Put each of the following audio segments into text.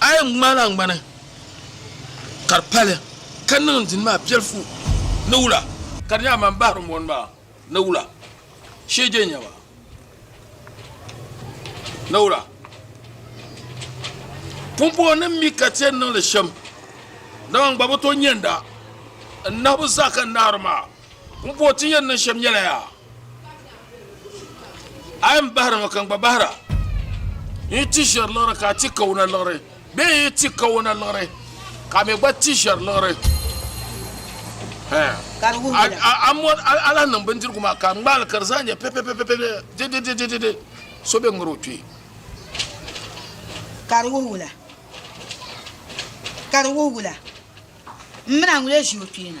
A yi ŋmaai naŋgbani ka di pali, ka niŋ n dini maa piɛlifu ni wula. Ka di nyɛ a mani bahiri mɔni maa ni wula, sheege n-nyɛ ma ni wula. Pumpɔŋɔnim mi ka ti yɛn niŋ li shɛm, dama n gba bi tooi nyanda n nahibu zaa ka n nahiri maa. Pumpɔŋɔ ti ni yɛn niŋ shɛm nyɛla yaa. A yi ni bahiri ŋɔ ka n-gba bahira, n yi ti ʒiɛri liɣiri ka a ti kawuna liɣiri, bee n yi ti kawuna liɣiri ka a mi gba ti ʒiɛri liɣiri, a lahi niŋ bindirigu maa ka a ŋmaai li ka di zaa nyɛ pɛpɛpɛpɛpɛ, didididididi so be ŋari o kpee. Ka di wuhi wula? Ka di wuhi wula? M mini a ŋun lee ʒi o kpee na?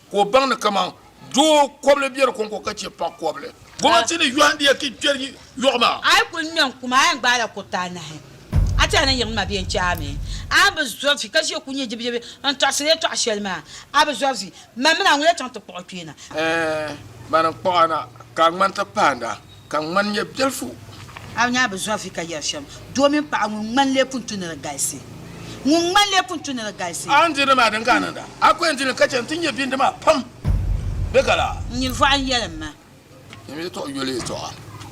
Ka o baŋ ni kaman doo kɔbili biɛri kɔŋko ka chɛ paɣ kɔbili. Gomnati ni yɔhimdiya ki kpɛri yɔɣu maa. A yi kul ŋmɛ n-kum a yɛn gbaala kuriti anahi, a ti yɛn ni yiɣim ma bee n-chɛ a mi? A ni bi zɔrisi ka ʒiya kul nyɛ jibijibi n-tɔɣisiri yɛtɔɣ shɛli maa, a bi zɔrisi, Mani mini a ŋun-lee chaŋ ti kpuɣ o kpee na? Ɛɛh, mani n-kpuɣ a na, ka a ŋmani ti pahindi a. Ka ŋman nyɛ biɛlifu. A ni nya bɛ zɔrifi ka yɛri shɛm, doo mini paɣa ŋun ŋmani lee pun tu ni di galisi. Ŋun ŋmani lee pun tu ni di galisi. A ni diri ni maa din ka a niŋda, a ku yɛn di li ka chɛ nti nyɛ bindi maa pam bee ka laa? N nyini vɔɣu n yɛli m ma. N mi tɔɣu yoli tɔɣa.